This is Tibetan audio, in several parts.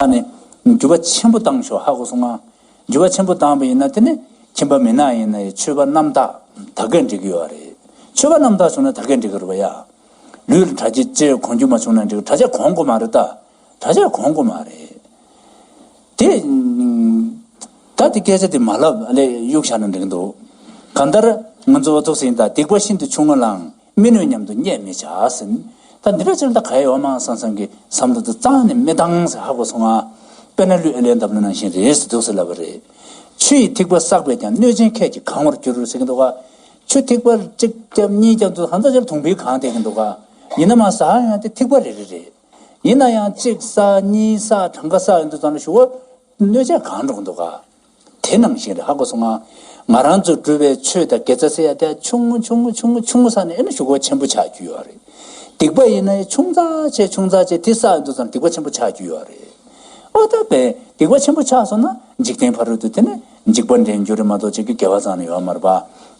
ལ་ནི་འགྱུར་བ་ཆེན་པོ་བཏང་ཆོག་ཧ་གོ་སོང་ང། འགྱུར་བ་ཆེན་པོ་བཏང་བས་ཡིན་ན་དེ་ནི་ཁྱིམ་པ་མི་ནག་ཡིན་ན་ཡི་ཆོས་པ་རྣམ་དག་ད་གས་འགྲིག་གི་ཡོད་རེད། ཆོས་པ་རྣམ་དག་བྱུང་ན་ད་གས་འགྲིག་གི་རེད་བ་ཡ། ལུས་ལ་དྲ་ཕྱི་ཅེས་གོང་འགྱུར་མ་བྱུང་ན་འགྲིག་དྲ་ཕྱི་གོང་གོ་མ་རེད་ད། དྲ་ཕྱི་གོང་གོ་མ་རེད། དེ། ད་དེ་སྐད་ཆ་དེ་མ་ལབ་ཨ་ལས་གཡུག་བཞག་ན་འགྲིག་གི་འདུག། གང་ལྟར་ང་ཚོ་བ་ཚོགས་སེང་དང་སྡིག་པ་ཤིན་ཏུ་ཆུང་ང་ལའང་མི་ནུས་སྙམ་དུ་བརྙས་མི་བྱ། ད་འདི་འདྲ་ཅིར་ད་ག་ཡི་འོ་མ་སང་སང་གི་ཟམ་དུ་འདི་གཙང་ནི་མི་གཏང་ཟེར་ཧ་གོ་སོང་ང། དཔེར་ན་ལུས་ཨེ་ལས་འདབ་ལོ་ནང་བཞིན་རེས་སུ་འདུག་ཟེར་ལབ་པ་རེད། ཆུ་ཡི་ཐིགས་པ་བསགས་པས་ཀྱང་གནོད་སྦྱིན་ཁད་ཀྱིས་གང་བར་འགྱུར་ཟེར་གྱི་འདུག་ག། ཆུ་ཐིགས་པ་གཅིག་བརྒྱབ་གཉིས་བརྒྱབ་འདུག་ད་འདི་ཅིར་དུང་འཕིག་གང་བསྡད་ཀྱི་འདུག་ག། ཡིན་ན་མ་བསགས་ཡང་དེ་ཐིགས་པ་རེ་རེ་རེད། ཡིན་ན་ཡང་གཅིག་བསགས་གཉིས་བསགས་གྲངས་ཀ་བསགས་ཡོང་དུས་ཙང་ལ་ཞུ་བ། གནོད་བྱེད་གང་འགྲོ་གི་འདུག་ག། དེ་ནང་བཞིན་རེད་ཧ་གོ་སོང་ང། ང་རང་ཚོ་འགྲུལ་བའི་ཆོས་དང་དགེ་རྩ་སེ་ཡ་དེ་ཆུང་ངུ་ཆུང་ངུ་ཆུང་ངུ་ཆུང་ངུ་ས་ནས་ཨེ་ན་ཞུ་གོ་ཆེན་པོ་ཆགས་རྒྱུ་ཡོད་རེད། སྡིག་པ་ཡིན་ན་ཨེ་ཆུང་ཙག་ཆེ་ཆུང་ཙག་ཆེ་དེ་ས་འདུག་ཙམ་སྡིག་པ་ཆེན་པོ་ཆགས་རྒྱུ་ཡོད་རེད། ཨོ་ད་པས་སྡིག་པ་ཆེན་པོ་ཆགས་སོང་ན་འཇིག་རྟེན་ཕ་རོལ་དུ་དེ་ནས་འཇིག་པ་འདྲེན་རྒྱུ་རེད་མ་གཏོགས་ཅིག་གི་དགེ་བ་ཙང་ནི་ཡོད་མ་རེད་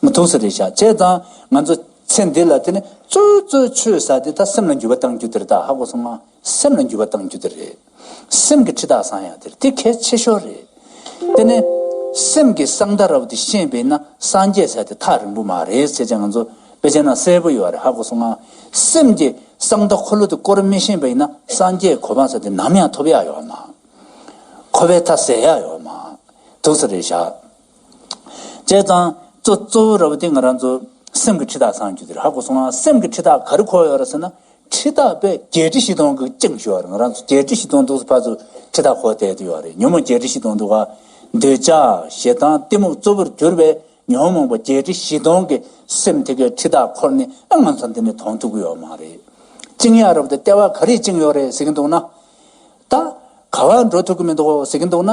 པ། ཐུགས་གསོ་རེད་ཤག་བྱས་ཙང་ང་ཚོ་ཚེ་འདི་ལ་དེ་ནས་གཙོ་གཙོ་ཆོས་ས་དེ་ད་སེམས་ལ་འགྱུར་བ་གཏང་རྒྱུ་དེ་རེད་ད་ཧ་གོ་སོང་ང། སེམས་ལ་འགྱུར་བ་གཏང་རྒྱུ་དེ་རེད། སེམས་ཀྱི་ཁྲི་དག་བཟང་ཡང་དེར་དེ་གལ་ཆེ་ཤོས་རེད། དེ་ནས། སེམས་ཀྱི་གསང་མཐའ་རབ་ཏུ་ཤེས་པས་ན་སངས་རྒྱས་བྱ་དེ་ཐག་རིང་པོ་མ་རེད་ཅེས་ཀྱང་ང་ཚོ་བེད་སྤྱད་ན་གསལ་པོ་ཡོད་པ་རེད་ཧ་གོ་སོང་ང། སེམས་ཀྱི་གསང་མཐའ་འཁོར་ལོ་དེ་བསྐོར་མི་ཤེས་པས་ན་སངས་རྒྱས་གོ་འཕང་བྱ་དེ་ནམ་ཡང་ཐོབ་ཡག་ཡོད་མ། འཁོར་བའི་མཐའ་ཟད་ཡག་ཡོད་མ། དུག་ཚ་རེད་ཞག། བྱས་ཙང། གཙོ་གཙོ་བོ་ར་བ་ཏི་ང་རང་ཚོ་སེམས་ཀྱི་འཁྲི་ཐག་སངས་རྒྱུ་དེ་རེད་ཧ་གོ་སོང་ང་སེམས་ཀྱི་འཁྲི་ཐག་ག་རེ་འཁོར་ཡོད་ར་ཟེར་ན་འཁྲི་ཐག་དཔེ་བརྒྱད་ཁྲི་བཞི་སྟོང་གི་བཅིངས་ཞོར་ར་ང་རང་ཚོ་བརྒྱད་ཁྲི་བཞི་སྟོང་འདུག་ཚོ་ཕར་ཚོ་འཁྲི་ཐག་འཁོར་བསྡད་དུ་ཡོད་ར་རེད་ཉོན་མོངས་བརྒྱད་ཁྲི་བཞི་སྟོང་འདུག་ག་འདོད་ཆགས་ཞེ་སྡང་གཏི་མུག་གཙོ་བོར་གྱུར་པའི་ཉོན་མོངས་པ་བརྒྱད་ཁྲི་བཞི་སྟོང་གི་སེམས་དེ་གའི་འཁྲི་ཐག་འཁོར་ནས་ཨ་ང་ཚོ་འདི་ནས་དོང་ཐུག་གི་ཡོད་མ་རེད། བཅིངས་ཡག་ར་བ་ཏི་ལྟེ་བ་ག་རེས་བཅིངས་ཡོད་རེད་ཟེར་གྱི་འདུག་ན། ད། ག་བ་འགྲོ་ཐུག་གི་མི་འདུག་ཟེར་གྱི་འདུག་ན།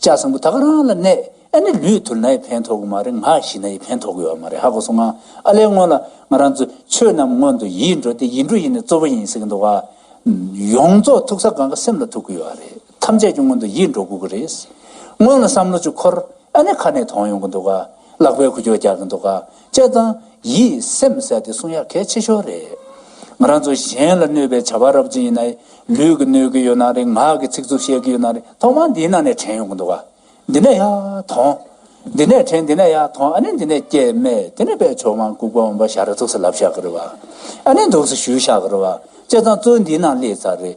ལྕགས་སྲིན་པོ་ད་ག་རང་ལ་གནས་ཨེ་ནི་ལུས་ཐུར་ན་ཡི་ཕན་ཐོག་གི་མ་རེད་ང་ཤི་ན་ཡི་ཕན་ཐོག་གི་ཡོད་མ་རེད་ཧ་གོ་སོང་ང་ཨ་ལས་སྔོན་ལ་ང་རང་ཚོས་ཆོས་རྣམས་སྔོན་དུ་ཡིད་འགྲོ་སྟེ་ཡིད་འགྲོ་ཡིན་ནི་གཙོ་བོ་ཡིན་ཟེར་གྱི་འདུག་ཡོངས་རྫོགས་ཐུག་ས་གང་གི་སེམས་ལ་ཐུག་གི་ཡོད་ཨ་རེད་ཐམས་ཅད་ཀྱི་སྔོན་དུ་ཡིད་འགྲོ་དགོས་གི་རེད་སྔོན་ལ་བསམ་བློ་ཅིག་འཁོར་ཨེ་ནི་ཁ་ནས་དོང་ཡོང་གི་འདུག་ལག་པས་ཁུ་ཅོ་རྒྱག་གི་འདུག་དཔྱད་གཙང། ཡིད་སེམས་གསལ་ཏེ་གསུང་ཡག་གལ་ཆེ་ཤོས་རེད། ང་རང་ཚོ་གཞན་ལ་གནོད་པའི་བྱ་བ་རབ་ཅིག་ཡིན་ན། ལུས་ཀྱི་གནོད་ཀྱི་ཡོད་ན་རེད་ངག་གི་ཚིག་རྩུབ་བཤད་ཀྱི་ཡོད་ན་རེད་ཐོག་མར་འདིའི་ནང་ནས་དྲན་ཡོང་གི་འདུག་ག། འདི་ནས་ཡར་ཐོན། འདི་ནས་དྲན་འདི་ནས་ཡར་ཐོན་ཨ་ནི་འདི་ནས་སྐྱེས་སྨྲས་དེ་ནས་པད་འབྱོར་དབང་བཀུག་པ་འོངས་པ་ཞག་རེ་ཚུགས་སུ་ལབ་ཞག་གི་རེད་བ། ཨ་ནི་འདུག་སུ་བཞུགས་ཞག་གི་རེད་བ། དཔྱད་གཙང་གཙོས་འདིའི་ནང་སླེབས་ཚར་རེད།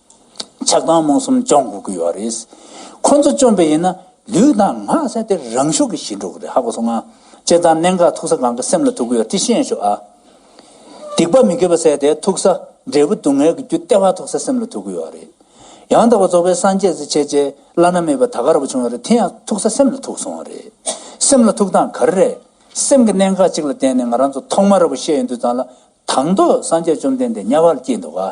ཆགས་སྡང་རྨོངས་གསུམ་བཅོམ་དགོས་ཀྱི་ཡོད་རེད། ཁོ་ཚོ་བཅོམ་པ་ཡིན་ན་ལུས་དང་ངག་བཅས་ཏེ་རང་ཤུགས་ཀྱིས་ཞི་འགྲོ་གི་རེད་ཧ་གོ་སོང་ང། སྤྱིར་བཏང་གནད་འགག་ཐུག་ས་གང་གི་སེམས་ལ་ཐུག་གི་ཡོད་དེ་ཤེས་ཤོག་ཨ། སྡིག་པ་མི་དགེ་བ་བསལ་ཏེ་ཐུག་ས་འབྲས་བུ་སྡུག་བསྔལ་གྱི་རྒྱུ་ལྟེ་བ་ཐུག་ས་སེམས་ལ་ཐུག་གི་ཡོད་རེད། ཡང་དག་པ་རྫོགས་པའི་སངས་རྒྱས་ཚེ་ཕྱེད་ཅེས་བླ་ན་མེད་པའི་ད་ག་ར་བ་བྱུང་བ་རེད་དེ་ཡང་ཐུག་ས་སེམས་ལ་ཐུག་སོང་བ་རེད། སེམས་ལ་ཐུག་སྟངས་ག་རེ་རེད། སེམས་ཀྱི་གནད་འགག་གཅིག་ལ་བརྟེན་ནས་ང་རང་ཚོ་ཐོག་མར་ར་བ་ཤེས་ཡོད་འདུག་ཙང་ལ་དང་ཐོག་སངས་རྒྱས་བཅོམ་ལྡན་འདས་དམྱལ་བར་སྐྱེས་འདུག་ག།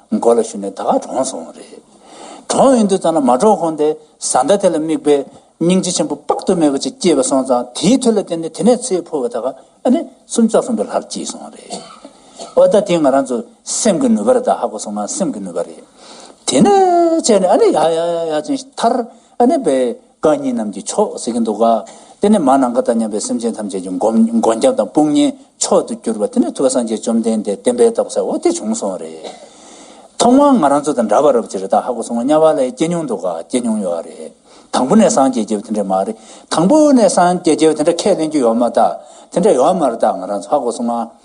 མགོ་ལ་ཞུ་ནས་ད་ག་གྲོངས་སོང་བ་རེད། གྲོངས་ཡོང་དུས་ཙམ་ལ་མ་གྲོངས་གོང་དེ་བཟའ་ཟླ་དེ་ལ་དམིགས་པའི་སྙིང་རྗེ་ཆེན་པོ་དཔག་ཏུ་མེད་པ་ཅིག་སྐྱེས་པ་སོང་ཙང་དེའི་མཐུ་ལ་བརྟེན་ནས་དེ་ནས་ཚེ་འཕོས་པ་ད་ག་ཨ་ནི་སུམ་བརྩེགས་གསུམ་པའི་ལྷར་སྐྱེས་སོང་བ་རེད། ཨོ་ད་དེ་ང་རང་ཚོ་སེམས་ཀྱི་ནུས་པར་ད་ཧ་གོ་སོང་ང་སེམས་ཀྱི་ནུས་པ་རེད། དེ་ནས་བྱས་ནས་ཨ་ནི་ཡག་ཡག་ཡག་ཡག་ཅིང་ཐར་ཨ་ནི་བས། རྐང་གཉིས་རྣམས་ཀྱིས་ཆོག་ཟེར་གྱི་འདུག་ག། དེ་ནས་མ་ནང་ག་དང་མཉམ་པའི་སེམས་ཅན་ཐམས་ཅད་ཀྱི་མགོན་སྐྱབས་དང་དཔུང་གཉེན་མཆོག་ཏུ་གྱུར་པ་དེ་ནི་ཐུབ་པ་སངས་རྒྱས་བཅོམ་ལྡན་འདས་བསྟན་པའི་རྟགས་བྱའོ་དེ་བྱུང་སོང་བ་རེད། ཐོག་མར་ང་རང་ཚོ་དང་འདྲ་བར་རབ་ཅི་རེ་ད་ཧ་གོ་སོང་ང་གཉའ་བ་ལས་སྐྱེས་མྱོང་འདུག་ག་སྐྱེས་མྱོང་ཡོད་ཨ་རེད། དང་པོ་ནས་སངས་རྒྱས་སྐྱེས་པ་དེ་འདྲ་མ་རེད། དང་པོ་ནས་སངས་རྒྱས་སྐྱེས་པ་དེ་འདྲ་ཁས་ལེན་རྒྱུ་ཡོད་མ་རྟགས་དེ་འདྲ་ཡོད་མ་རྟགས་ང་རང་ཚོ་ཧ་གོ་སོང་ང།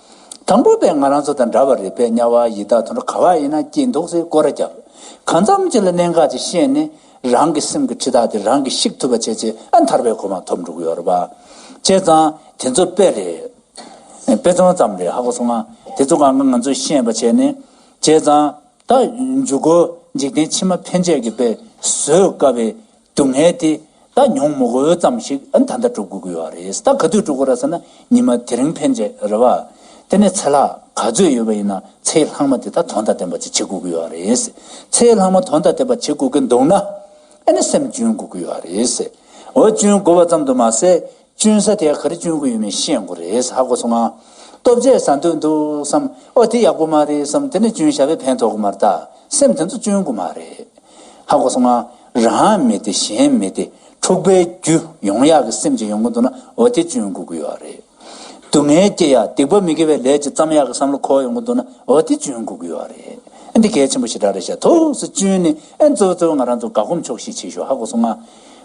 དང་པོ་པས་ང་རང་ཚོ་དང་འདྲ་བ་རེད་པས་དམྱལ་བ་ཡི་དྭགས་དང་ག་བ་ཡིན་ན་སྐྱིད་འདུག་ཟེར་སྐོར་ར་རྒྱབ། གང་འཚམ་ཅིག་ལ་གནད་འགག་ཅིག་ཤེས་ནས། རང་གི་སེམས་ཀྱི་འཁྲི་ཐག་དེ་རང་གིས་བཤིག་ཐུབ་པ་བྱས་རྗེས་ཨ་མཐར་བས་གོ་མ་ཐོབ་འགྲོ་གི་ཡོད་རེད་པ། བྱས་ཙང་དེ་ཚོ་དཔེ་རེད། དཔེ་ཚོང་ཙམ་རེད་ཧ་གོ་སོང་ང། དེ་ཚོ་གང་གི་ང་ཚོས་ཤེས་པ་བྱས་ནས། བྱས་ཙང་ད་འཇུག་གོ་འཇིག་རྟེན་ཕྱི་མ་ཕན་ཆད་ཀྱི་དཔེ་བཟོས་དཀའ་བའི་སྡུག་བསྔལ་དེ་ད་ཉོང་མོག་འོས་ཙམ་ཞིག་ད་ལྟ་སྤྲོ་དགོས་ཀྱི་ཡོད་རེད་ད་ག་དུས་སྤྲོ་དགོས་ར་ཟེར་ན་ཉི་མ་དེ་རིང་ཕན་ཆད་རེད་བ། དེ་ནས་ཚེ་ལྷག་ག་ཚོད་ཡོད་པ་ཡིན་ན་ཚེའི་ལྷག་མ་དེ་ད་དོན་དང་ལྡན་པ་ཅིག་བྱེད་དགོས་ཀྱི་ཡོད་རེད། ཚེའི་ལྷག་མ་དོན་དང་ལྡན་པ་བྱེད་དགོས་ཀྱི་འདུག་ན། ཨ་ནི་སེམས་བཅོན་དགོས་ཀྱི་ཡོད་རེད། འོ་བཅོན་དགོས་པ་ཙམ་དུ་མ་ཟད་གཅུན་ས་དེ་ག་རེ་གཅུན་གི་ཡོད་མེད་ཤེས་དགོས་རེད་ཧ་གོ་སོང་ང། སྟོབས་རྒྱས་ཟ་འདོད་འདུག་བསམ། ཨོ་དེ་ཡག་པོ་མ་རེད་བསམ་དེ་ནས་གཅུན་ཞྭ་བས་ཕན་ཐོག་གི་མ་རེད་ད་སེམས་དེ་ཚོ་གཅུན་དགོས་མ་རེད། ཧ་གོ་སོང་ང། རང་མེད་དེ་གཞན་མེད་དེ་འཁྲུག་པའི་རྒྱུ་ཡོང་ཡག་གི་སེམས་ཅིག་ཡོང་གི་འདུག་ན་ཨོ་དེ་གཅུན་དགོས་ཀྱི་ཡོད་རེད། སྡུག་བསྔལ་སྐྱེ་ཡག་སྡིག་པ་མི་དགེ་བའི་ལས་ཅིག་བརྩམ་ཡག་གི་བསམ་བློ་འཁོར་ཡོང་གི་འདུག་ན་ཨོ་དེ་གཅུན་དགོས་ཀྱི་ཡོད་རེད། འདི་གལ་ཆེན་པོ་ཞེ་དྲག་རེད་ཤ་ཐུགས་སུ་གཅུན་ནས་ཨེ། གཙོ་བོ་གཙོ་བོ་ང་རང་ཚོ་དགའ་སྒོམ་ཆོག་ཤེས་བྱེད་ཤོག་ཧ་གོ་སོང་ང།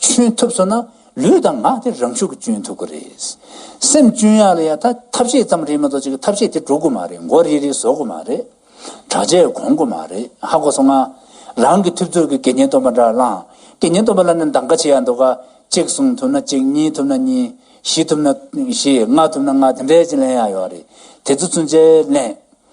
གཅུན་ཐུབ་སོང་ན་ལུས་དང་ངག་དེ་རང་ཤུགས་ཀྱིས་གཅུན་ཐུབ་ཀྱི་རེད། སེམས་གཅུན་ཡག་ལ་ཡག་ད་ཐབས་ཤེས་ཙམ་རེད་མ་གཏོགས་ཅིག་ཐབས་ཤེས་དེ་འགྲོ་དགོས་མ་རེད་མགོ་རིལ་རིལ་བཟོ་དགོས་མ་རེད། དྲག་ཆས་གོང་དགོས་མ་རེད་ཧ་གོ་སོང་ང། རང་གི་ཐུབ་ཚོད་ཀྱིས་དགེ་བསྙེན་སྟོན་པ་འདྲ་བླངས་དགེ་བསྙེན་སྟོན་པ་ལ་ནི་འདང་ཁ་ཆེ་ཡག་འདུག་ག་གཅིག་གསུང་ཐུབ་ན་གཅིག་གཉིས་ཐུབ་ན་གཉིས། བཞི་ཐུབ་ན་བཞི་ལྔ་ཐུབ་ན་ལྔ་དེ་འདྲའི་ཅིག་ལན་ཡག་ཡོད་རེད་དེ་ཚོ་ཚུན་ཆད་ལན།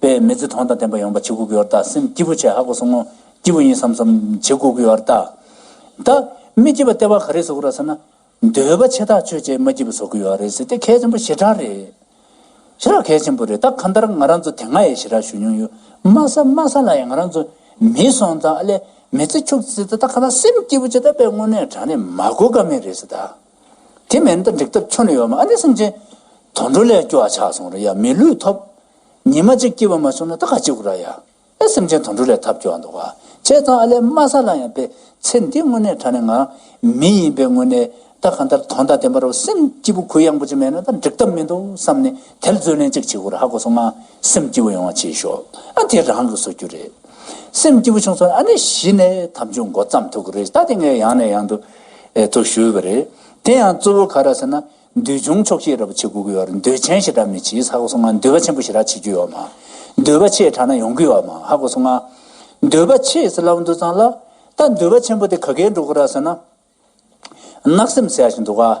པས་མི་ཚེ་གྲོང་དང་ལྡན་པ་ཡོང་བར་བྱེད་དགོས་ཀྱི་ཡོད་རྟ་སེམས་སྐྱིད་པོ་བྱས་ཧ་གོ་སོང་ངོ་སྐྱིད་པོ་ཡིན་བསམ་བསམ་བྱེད་དགོས་ཀྱི་ཡོད་རྟ། ད། མི་སྐྱིད་པ་ལྟེ་བ་ག་རེ་བཟོ་གི་རོ་ཟེར་ན། འདོད་པ་ཆེ་ཐག་ཆོད་ཅེས་མ་སྐྱིད་པ་བཟོ་གི་ཡོད་རེད་ཟེར་ཏེ་གལ་ཆེན་པོ་ཞེ་དྲག་རེད། ཞེ་དྲག་གལ་ཆེན་པོ་རེད་ད་གང་ལྟར་ང་རང་ཚོ་དེ་སྔ་ཡི་ཞེ་དྲག་ཞུ་མྱོང་ཡོད་མ་ས་མ་ས་ལ་ཡང་ང་རང་ཚོ་མིའི་སོང་ཙང་ཨ་ལས་མི་ཚེ་ཕྱུག་ཟེར་ཏེ་ད་གང་ལྟར་སེམས་སྐྱིད་པོ་བྱས་ད་པས་དངོས་གནས་དྲང་གནས་མ་གོ་ཀ་མེད་རེད་ཟེར་ད། དེ་མེད་ན་ད་འགྲིག་ཐབས་ཁྱོན་ལ་ཡོད་མ་ཨ་ནི་སེམས་ཅན། དུད་འགྲོ་ལས་སྐྱོ་བ་ཆགས་སོང་ར་ཡ་མི་ལུས་ཐོབ། ཉི་མ་གཅིག་སྐྱིད་པ་མ་བྱུང་ན་ད་ག་སྐྱིད་དགོས་ར་ཡ། ཨེ་སེམས་ཅན་དུད་འགྲོ་ལས་ཐབས་སྐྱོ་བ་འདུག་ག་བྱས་ཙང་ཨ་ལས་དམའ་ས་ལ་ཡང་ཕེབས་ཚེ་འདི་དངོས་གནས་ད་ནི་ང་རང་མི་ཡིན་པའི་དངོས་གནས་ད་གང་ལྟར་དོན་དང་ལྡན་པ་རུ་སེམས་སྐྱིད་པོ་གུ་ཡངས་པོ་ཅིག་མེད་ན་ད་འགྲིག་ཐབས་མི་འདུག་བསམ་ནས་དེར་རྩོད་ལེན་གཅིག་བྱེད་དགོས་ར་ཧ་གོ་སོང་ང་སེམས་སྐྱིད་པོ་ཡོང་བ་བྱེད་ཤོག་ཨ་དེ་རང་གི་བཟོ་རྒྱུ་རེད། སེམས་སྐྱིད་པོ་བྱུང་སོང་ཨ་ནི་གཞི་ནས་དམ་ཆོས་མགོ་བརྩམས་ཐུབ་གི་རེད་ད་དེ་ངས་ཡང་ནས་ཡང་དུ་འེ་ཐོ་ཞུས་པ་རེད། དེ་ཡང་གཙོ་བོ་ག་ར་ཟེར་ན། འདུལ་བྱུང་མཆོག་ཤེས་རབ་བྱེད་དགུ་གི་བར་འདུལ་ཆེན་ཞེ་དྲག་མི་བྱེད་ཧ་གོ་སོང་ང་འདུལ་བ་ཆེན་པོ་ཞེ་དྲག་བྱེད་རྒྱུ་ཡོག་མ། འདུལ་བ་ཆེ་དྲག་ན་ཡོང་གི་ཡོག་མ་ཧ་གོ་སོང་ང། འདུལ་བ་ཆེ་ཟེར་ལབ་འདུག་ཙང་ལ། ད་འདུལ་བ་ཆེན་པོ་དེ་ག་གེ་འགྲོ་གི་ར་ཟེར་ན། ནག་སེམས་ཟེར་ཡག་ཞིག་འདུག་ག།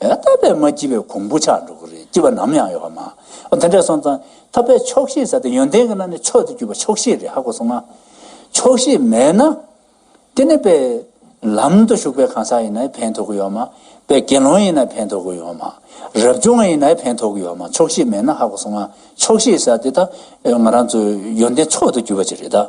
ཡང་དག་པའི་མ་སྐྱིད་པའི་གོང་བུ་ཆགས་འགྲོ་གི་རེད་སྐྱིད་པ་ནམ་ཡང་ཡོད་པ་མ་འོ་དེ་འདྲ་སོང་ཙང་ཐོབ་པའི་ཆོག་ཤེས་ཟེར་ཏེ་ཡོན་ཏན་གྱི་ནང་ནས་མཆོག་ཏུ་གྱུར་པ་ཆོག་ཤེས་རེད་ཧ་གོ་སོང་ང། ཆོག་ཤེས་མེད་ན། དེ་ནས་པས། ལམ་དུ་ཞུགས་པའི་གང་ཟག་ཡིན་ནའི་ཕན་ཐོག་གི་ཡོད་མ། པས་དགེ་སློང་ཡིན་ནའི་ཕན་ཐོག་གི་ཡོད་མ། རབ་བྱུང་བ་ཡིན་ནའི་ཕན་ཐོག་གི་ཡོད་མ་ཆོག་ཤེས་མེད་ན་ཧ་གོ་སོང་ང་ཆོག་ཤེས་ཟེར་དེ་ད། ང་རང་ཚོ་ཡོན་ཏན་མཆོག་ཏུ་གྱུར་པ་ཅིག་རེད་ད།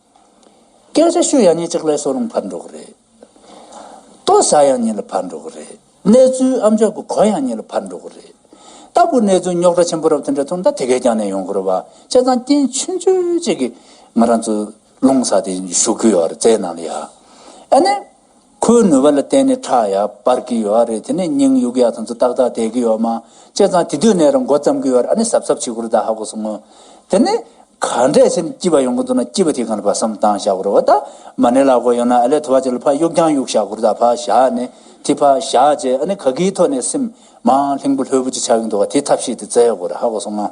སྐད་ཆ་ཤོད་ཡག་ཉིན་གཅིག་ལས་སོ་རུང་ཕར་འགྲོ་གི་རེད། ལྟོ་ཟ་ཡག་ཉིན་ལ་ཕར་འགྲོ་གི་རེད། གནས་ཚུལ་ཨམ་ཅོག་གི་གོ་ཡག་ཉིན་ལ་ཕར་འགྲོ་གི་རེད། ལྟ་བུ་གནས་ཚུལ་རྙོག་དྲ་ཆེན་པོ་རབ་དེ་འདྲ་ཐོན་ད་དེ་གས་ཀྱང་ནས་ཡོང་གི་རེད་བ་ཅེ་ཚང་རྐྱེན་ཆུན་ཆུན་ཅིག་གིས་ང་རང་ཚོ་ལུང་ས་དེ་བཞུགས་གི་ཡོད་རེད་རྩའི་ནང་ལ་ཡ་ཨ་ནི། ཁོའི་ནུས་པ་ལ་བརྟེན་ནས་ཁྲག་ཡར་འབར་གྱི་ཡོད་རེད་དེ་ནས་སྙིང་གཡུག་ཡ་ཚང་ཚོ་ཏག་ཏག་བསྡད་ཀྱི་ཡོད་མ་བྱས་ཙང་དེ་དུས་ནས་རང་མགོ་བརྩམ་གྱི་ཡོད་རེད་ཨ་ནི་གཟབ་གཟབ་བྱེད་དགོས་རེད་ད་ཧ་གོ་སོང་ངོ། དེ་ནས། ག་འདྲས་ཆེ་ནས་སྐྱིད་པ་ཡོང་གི་འདུག་ན་སྐྱིད་པ་དེ་གང་ལ་ཕ་བསམ་བཏང་བཞག་གོ་རེ་བ་ད། མ་ནི་ལག་གོ་ཡོད་ན་ཨ་ལས་ཐུ་བ་ཅིག་ལ་ཕ་གཡུག་རྒྱང་གཡུག་བཞག་གོ་རེ་ད་ཕ་བཞག་ནས་དེ་ཕ་བཞག་རྗེས་ཨ་ནི་ག་གིའི་ཐོག་ནས་སེམས། མའང་ལྷིང་པོ་ལྷོད་པོ་ཅིག་ཆགས་ཀྱི་འདུག་ག་དེ་ཐབས་ཤེས་དེ་བཙལ་ཡོད་གོ་རེ་ཧ་གོ་སོང་ང།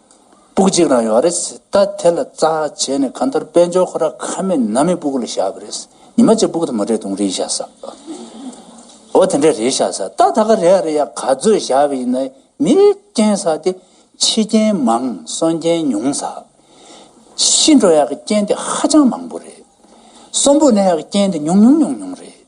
སྤུག་གཅིག་རང་ཡོད་རེད། ད་དེ་ལ་རྩ་བྱས་ནས་གང་ལྟར་དཔལ་འབྱོར་ཁོ་ར་ཁ་མེད་ནག་མེད་སྤུག་ལ་བཞག་པ་རེད། ཉི་མ་གཅིག་སྤུག་དང་མ་འདྲེས་དུང་རེ་ཡིས་བཞག་ས། འོ་དེ་འདྲས་རེ་བཞག་ས་ད་ད་ག་རེ་ཡ་རེ་ཡ་ག་ཚོད་བཞག་པ་ཡིན་ན་མི་རྐྱེན་ས་དེ་ཕྱི་རྐྱེན་མང་གསོན་རྐྱེན་ཉུང་ས། ཤི་འགྲོ་ཡག་གི་རྐྱེན་དེ་ཧ་ཅང་མང་པོ་རེད། གསོན་པོ་ན་ཡག་གི་རྐྱེན་དེ་ཉུང་ཉུང་ཉུང་ཉུང་རེད།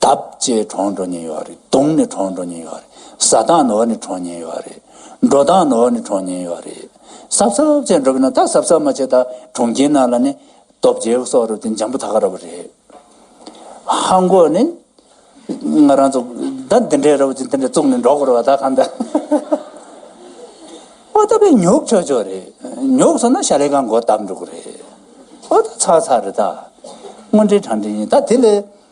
འདབ་བརྒྱད་གྲོང་འགྲོ་ཉེན་ཡོད་རེད་དུང་ནི་གྲོང་འགྲོ་ཉེན་ཡོད་རེད་ས་དང་ནོར་ནི་གྲོང་ཉེན་ཡོད་རེད་འགྲོ་དང་ནོར་ནི་གྲོང་ཉེན་ཡོད་རེད་སབ་སབ་བྱས་འགྲོ་གི་ན་ད་སབ་སབ་མ་བྱས་ད་གྲོང་ཁྱེར་ནང་ལ་ནི་སྟོབས་རྒྱལ་གི་སོག་རུ་དེ་འཇམ་པོ་ད་ག་ར་བ་རེད། ཧ་མགོ་ནི་ང་རང་ཚོ་ད་འདི་འདྲའི་ར་བ་ཅིག་འདི་འདྲའི་བཙུགས་ནས་འགྲོ་དགོས་ར་བ་ད་གང་ད་ཨོ་ད་པེ་ཉོག་ཆོག་ཆོག་རེད་ཉོག་སོང་ན་ཤ་ལེ་གང་མགོ་བཏབ་འགྲོ་གི་རེད་ཨོ་ད་ཚར་ཚར་རེད་ད་དངོས་འབྲེལ་དྲང་འབྲེལ་ཡིན་ད་དེ་ལས་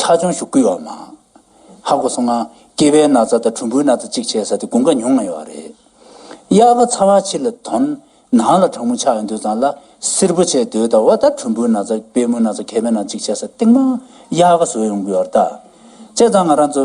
ཁྲ་ཆུང་ཞུ་བསྐུལ་བ་མ། ཧ་གོ་སོང་ང། སྐྱེས་པའི་ན་ཚ་དང་གྲུམ་བུའི་ན་ཚ་གཅིག་བྱས་ས་དེ་དགུང་ཁ་ཉུང་ང་ཡོད་བ་རེད། གཡག་ག་ཚ་བ་ཕྱི་ལ་དོན། ནང་ལ་གྲང་མོ་ཆགས་ཡོད་འདོད་ཙང་ལ་སིར་པོ་ཆེ་འདོད་ད་བ་ད་གྲུམ་བུའི་ན་ཚ་པད་མོའི་ན་ཚ་གད་པའི་ན་ཚ་གཅིག་བྱས་ས་སྟེང་མ་གཡག་ག་བཟོས་ཡོང་གི་ཡོད་ར་ད། བྱས་ཙང་ང་རང་ཚོ།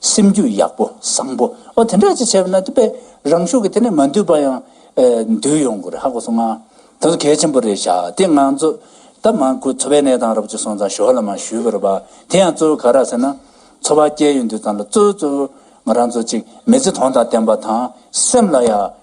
སེམས་རྒྱུད་ཡག་པོ་བཟང་པོ་ཨོ་དེ་འདྲ་ཅིག་བྱས་པ་ན་དེ་པས་རང་ཤུགས་ཀྱིས་དེ་ནས་མ་འདུས་པ་ཡང་འདུས་ཡོང་དགོས་རེད་ཧ་གོ་སོང་ང། ད་གཟོད་གལ་ཆེན་པོ་རེད་བཞག་དེ་ང་ཚོ་ད་མང་ཁུལ་འཚོ་བའི་གནས་སྟངས་རབ་ཅིག་སོང་ཙང་ཞོར་ལ་མ་ཞུས་པར་བ་དེ་ཡང་གཙོ་བོ་ག་རག་ཟེར་ན་འཚོ་བ་སྐྱེལ་ཡོང་དུས་ཙང་ལ་གཙོ་བོ་གཙོ་བོ་ང་རང་ཚོ་ཅིག་མི་ཚེ་དོན་དང་བརྟན་པ་དང་སེམས་ལ་ཡང་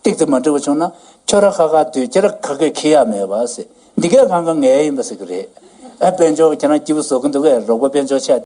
སྟེགས་དེ་མ་འབྲི་བ་བྱུང་ན་ཁྱོད་ར་ཁ་ཁ་སྡོད་རྒྱ་ར་ཁ་ཁས་ཁེ་ཡག་མེད་པ་ཟེར་འདི་གས་ཁང་ཁ་ངས་ཡིན་པ་ཟེར་གི་རེད་ཨ་དཔལ་འབྱོར་བ་ཁྱེད་རང་སྐྱིད་པོ་བཟོ་གི་འདུག་གས་རོགས་པ་དཔལ་འབྱོར་ཆེ